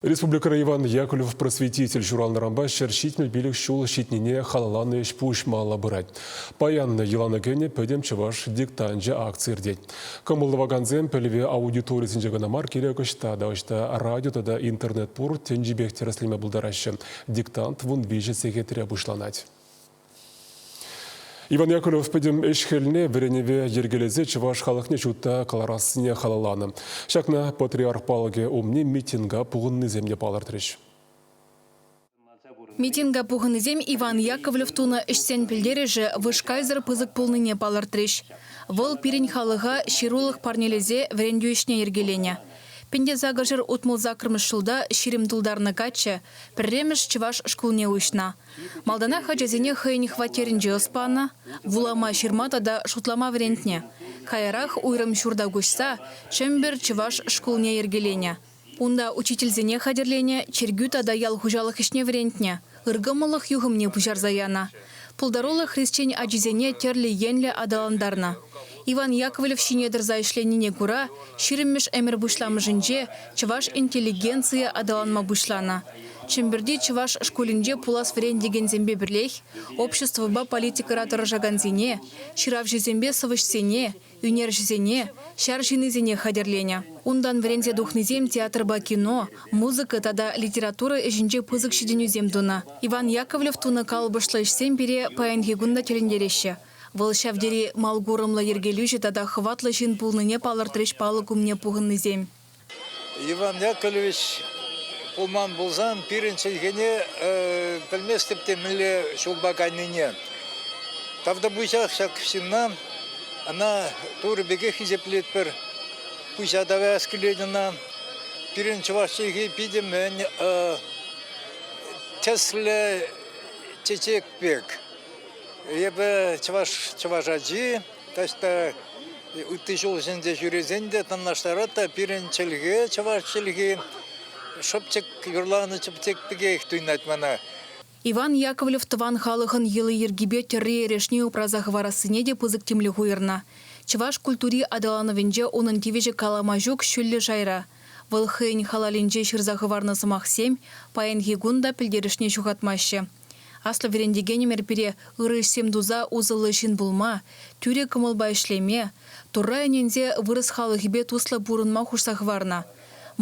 Республикӑра Иван Яковлев просветитель ҫуралнӑранпа ҫӗр ҫитмӗл пилӗк ҫул ҫитнине халалланӑ ӗҫ-пуҫ малалла пырать. Паян йӑлана кӗнӗ Пӗтӗм чӑваш диктанчӗ акци иртет. Кӑмӑл тӑвакансем пӗлӗве аудиторисенче кӑна мар, кирек ӑҫта та ӑҫта радио тата интернет пур тӗнчипех тӗрӗсленме пултараҫҫӗ. Диктант вун виҫӗ сехетре пуҫланать. Иван Яковлев пӗтӗм ӗҫ-хӗлне вӗренӗве йӗркелесе чӑваш халӑхне ҫутта кӑларассине халалланӑ. Ҫакна патриарх палӑкӗ умне митинга пухӑннисем те палӑртрӗҫ. Митинга пухӑннисем Иван Яковлев тунӑ ӗҫсен пӗлтерӗшӗ вышкайсӑр пысӑк пулнине палӑртрӗҫ. Вӑл пирӗн халӑха ҫырулӑх парнелесе вӗрентӳ ӗҫне йӗркеленӗ. Пӗнтесакӑрҫӗр утмӑл саккӑрмӗш ҫулта ҫирӗм тултарнӑ каччӑ пӗрремӗш чӑваш шкулне уҫнӑ. Малтанах ачасене хӑйӗн хваттерӗнче ӑс панӑ, вулама, ҫырма тата шутлама вӗрентнӗ. Каярах уйрӑм ҫурта куҫса Чӗмпӗр чӑваш шкулне йӗркеленӗ. Унта учительсене хатӗрленӗ чиркӳ тата ял хуҫалӑх ӗҫне вӗрентнӗ, ыркӑмӑллӑх юхӑмне пуҫарса янӑ. Пултаруллӑ хресчен ачисене тӗрлӗ енлӗ аталантарнӑ. Иван Яковлев ҫине тӑрса ӗҫленине кура ҫирӗммӗш ӗмӗр пуҫламӑшӗнче чӑваш интеллигенцийӗ аталанма пуҫланӑ. Чӗмпӗрти чӑваш шкулӗнче пулас вӗрентекенсемпе пӗрлех обществӑпа политикӑра тӑрӑшакансене, ҫыравҫӑсемпе сӑвӑҫсене, ӳнерҫӗсене, ҫар ҫыннисене хатӗрленӗ. Унтан вӗренсе тухнисем театрпа кино, музыка тата литература ӗҫӗнче пысӑк ҫитӗнӳсем тунӑ. Иван Яковлев тунӑ калӑпӑшлӑ ӗҫсем пире паянхи кун та тӗлӗнтереҫҫӗ. Вӑл ҫав тери мал курӑмлӑ йӗркелӳҫӗ тата хӑватлӑ ҫын пулнине палӑртрӗҫ палӑк умне пухӑннисем. Иван Яковлевич пулман пулсан пирӗн чӗлхене пӗлместӗп те мӗнле ҫулпа кайнине. Тавтапуҫах ҫак ҫынна. Ӑна Турӑ пекех хисеплетпӗр. Пуҫа таваяс килет ӑна. Пирӗн чӑваш чӗлхи питӗ мӗн тӗслӗ чечек пек. Эпӗ чӑваш, чӑваш ачи, таҫта ытти ҫул ҫинче ҫӳресен те танлаштарать та пирӗн чӗлхе, чӑваш чӗлхи шӑпчӑк, юрланӑ чӑпчӑк пекех туйӑнать мана. Иван Яковлев тӑван халӑхӑн йӑли-йӗркипе тӗрри-эрешне упраса хӑварассине те пысӑк тимлӗх уйӑрнӑ. Чӑваш культури аталанӑвӗнче унӑн тивӗҫӗ калама ҫук ҫӳллӗ шайра. Вӑл хӑйӗн халалӗнче ҫырса хӑварнӑ сӑмахсем паянхи кун та пӗлтерӗшне ҫухатмаҫҫӗ. Аслӑ вӗрентекенӗмӗр пире ырӑ ӗҫсем туса усӑллӑ ҫын пулма, тӳрӗ кӑмӑлпа ӗҫлеме, Турра ӗненсе вырӑс халӑхӗпе туслӑ пурӑнма хушса хӑварнӑ.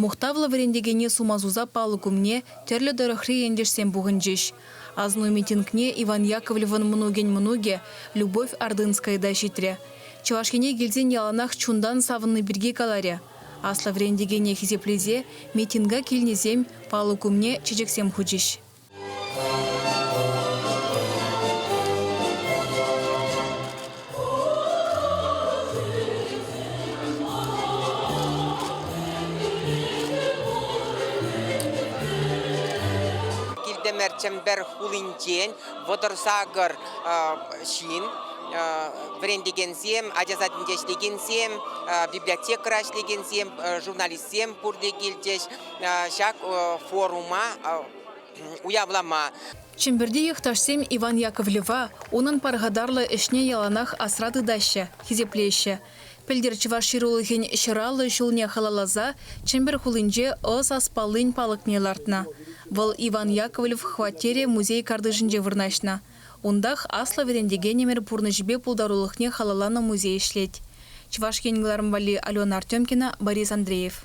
Мухтавлӑ вӗрентекене сума суса палӑк умне тӗрлӗ тӑрӑхри ентешсем пухӑнчӗҫ. Асну митингне Иван Яковлевӑн мӑнукӗн мӑнукӗ Любовь Ордынская та ҫитрӗ. Чӑваш Ене килсен яланах чунтан савӑнни пирки каларӗ. Аслӑ вӗрентекене хисеплесе митинга килнисем палӑк умне чечексем хучӗҫ. Килтемер Чӗмпер хулинчен вӑтӑр сакӑр ҫын вӗрентекенсем, ача садӗнче ӗҫлекенсем, библиотекӑра ӗҫлекенсем, журналистсем пурте килчӗҫ. ҫак форума уявлама. Чӗмпӗрти йӑхташсем Иван Яковлева унӑн пархатарлӑ ӗҫне яланах асра тытаҫҫӗ, хисеплеҫҫӗ. Пӗлтӗр чӑваш ҫырулӑхӗн ҫӑраллӑ ҫулне халалласа Чӗмпӗр хулинче ӑс аспаллин палӑкне лартнӑ. Вӑл Иван Яковлев хваттерӗ музей картишӗнче вырнаҫнӑ. Унтах аслӑ вӗрентекен ӗмӗр пурнӑҫӗпе пултарулӑхне халалланӑ музей ӗҫлет. Чӑваш Ен кӑларӑм валли Алена Артемкина, Борис Андреев.